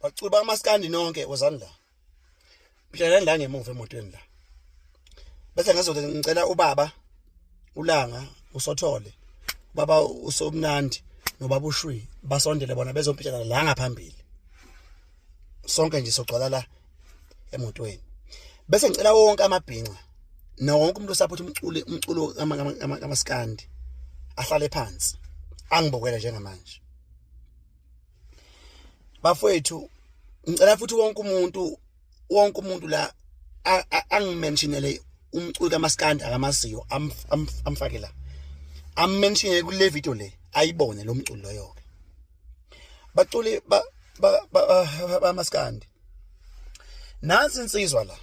bacuba amaskandi nonke wozani la mhlalani la ngemuva emotweni la bese ngizothi ngicela ubaba ulanga usothole baba usomnandi nobaba ushwi basondele bona bezompitshelana la ngaphambili sonke nje sogcwala la emotweni bese ngicela wonke amabhinca nawo wonke umuntu osaphethe umculo umculo kamaskandi ahlale phansi angibokele njengamanje bafowethu ngicela futhi wonke umuntu wonke umuntu la angimentionele umculi kamaskandi akamaziyo amfake la ammentionele kule video le ayibone lo mculi loyo ke baculi ba bamaskandi nansi insizwa la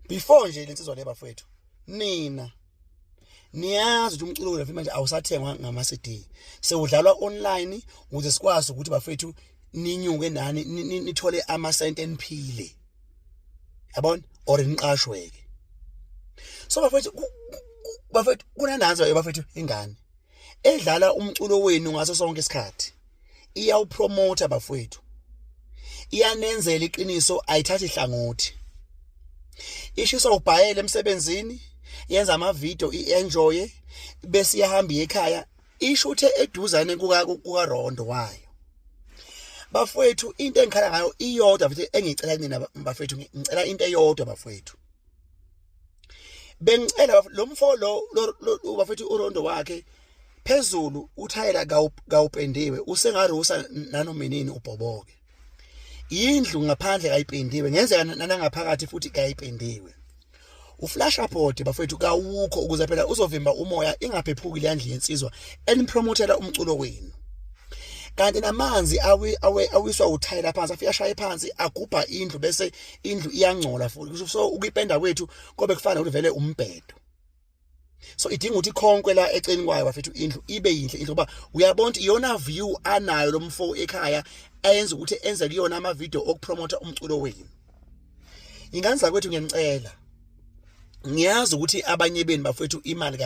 before nje lensizwa le bafowethu nina niyazi ukuthi umculo wethu manje awusathengwa ngama-cd sewudlalwa online ukuze sikwazi ukuthi bafethu ninyuke nani nithole amasenti eniphile yabona or niqashwe-ke so bafethu bafethu kunananzo bafethu ingane edlala umculo wenu ngaso sonke isikhathi iyawupromote bafowethu iyanenzela iqiniso ayithathi hlangothi ishisa ubhayele emsebenzini yenza amavideo i-enjoy bese iyahamba ekhaya isho uthe eduzane kukarondo wayo bafowethu into engikhala ngayo iyodwa futhi engicela kunina bafowethu ngicela into eyodwa bafowethu bengicela lo mfo lo bafethu urondo wakhe phezulu uthayela kawupendiwe usengarusa nanomenini ubhoboke indlu ngaphandle kayipendiwe ngenzeka nanangaphakathi futhi kayipendiwe uflash report bafethu kawukho ukuze phela uzovimba umoya ingaphephuki le ndlu yensizwa enipromotela umculo wenu kanti namanzi awiswa uthayela phansi afika shaye phansi agubha indlu bese indlu iyangcola futhi kusho so ukuyipenda kwethu kobe kufana ukuthi vele umbhedo so idinga ukuthi khonkwe la eceni kwayo bafethu indlu ibe yinhle indlu ngoba uyabona ukuthi iyona view anayo lo mfo ekhaya ayenza ukuthi enze kuyona ama video okupromota umculo wenu ingane zakwethu ngiyanicela ngiyazi ukuthi abanye benu bafethu imali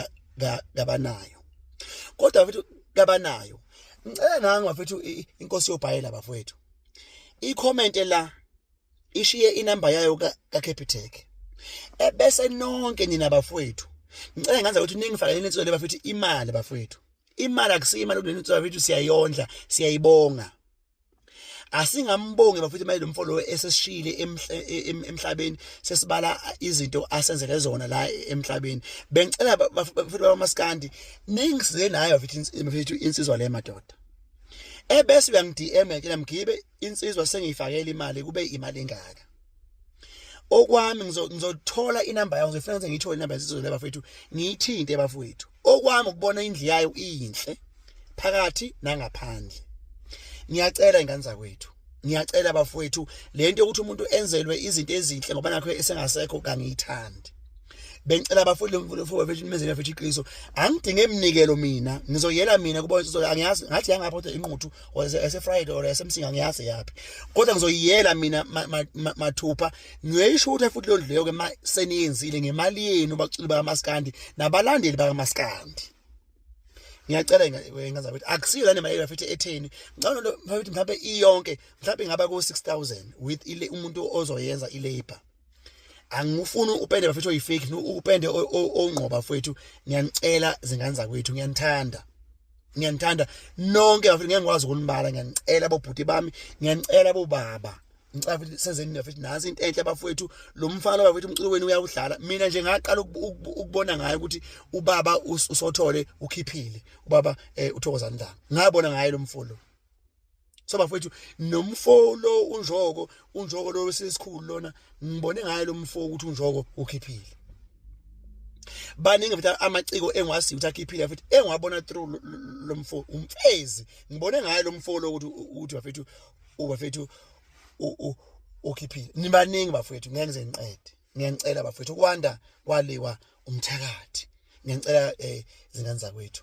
kabanayo kodwa bafethu kabanayo ngicela nangu bafethu inkosi yobhayela bafethu i-comment la ishiye inamba yayo kaCapitec ebese nonke nina bafowethu ngicela ngenza ukuthi ningifakele insizo le bafethu imali bafowethu imali akusiyo imali kuleli nsizo bafethu siyayondla siyayibonga asingambongi bafethu imali lomfo lo esesishile emhlabeni sesibala izinto asenzele zona la emhlabeni bengicela bafethu bamaskandi ningisize nayo bafethu insizwa le madoda ebese uyangi-DM ke namgibe insizwa sengiyifakela imali kube imali engaka okwami ngizothola inamba yayo ngizofuna ukuthi ngiyithole inamba yesizwe laba fethu ngiyithinte bafowethu okwami ukubona indlu yayo iyinhle phakathi nangaphandle ngiyacela ingane zakwethu ngiyacela bafowethu lento yokuthi umuntu enzelwe izinto ezinhle ngoba nakho esengasekho kangiyithandi bengicela abafundi lomfowethu bafethu imezela bafethu iqiniso angidinge iminikelo mina ngizoyela mina kuba insizwa angiyazi ngathi yangapha kodwa inquthu or ese friday or ese msinga ngiyazi yaphi kodwa ngizoyiyela mina mathupha ngiyoyishutha futhi londlu leyo ke seniyenzile ngemali yenu baculi bakamaskandi nabalandeli bakamaskandi ngiyacela ngazabe ukuthi akusiyo lana imali bafethu etheni ngicabanga lo mfowethu mhlawumbe iyonke mhlawumbe ingaba ku 6000 with ile umuntu ozoyenza ilabor angifuni upende bafethu oyifake upende ongqoba fethu ngiyanicela zingane zakwethu ngiyanithanda ngiyanithanda nonke bafethu ngeke ngikwazi ukunibala ngiyanicela bobhuti bami ngiyanicela bobaba ngicela futhi senzeni bafethu nazi into enhle bafethu lo mfana bafethu umculo wenu uyawudlala mina nje ngaqala ukubona ngaye ukuthi ubaba usothole ukhiphile ubaba eh, uthokozani la ngabona ngaye lo mfolo so bafowethu nomfo lo unjoko unjoko lo wesesikhulu lona ngibone ngaye lo mfo ukuthi unjoko ukhiphile baningi futhi amaciko engwazi ukuthi akhiphile futhi engwabona through lo mfo umfezi ngibone ngaye lo mfo lo ukuthi ukuthi bafethu ubafethu ukhiphile nibaningi bafethu ngeke ngize ngiqede ngiyanicela bafethu ukwanda kwaliwa umthakathi ngiyanicela eh zingane zakwethu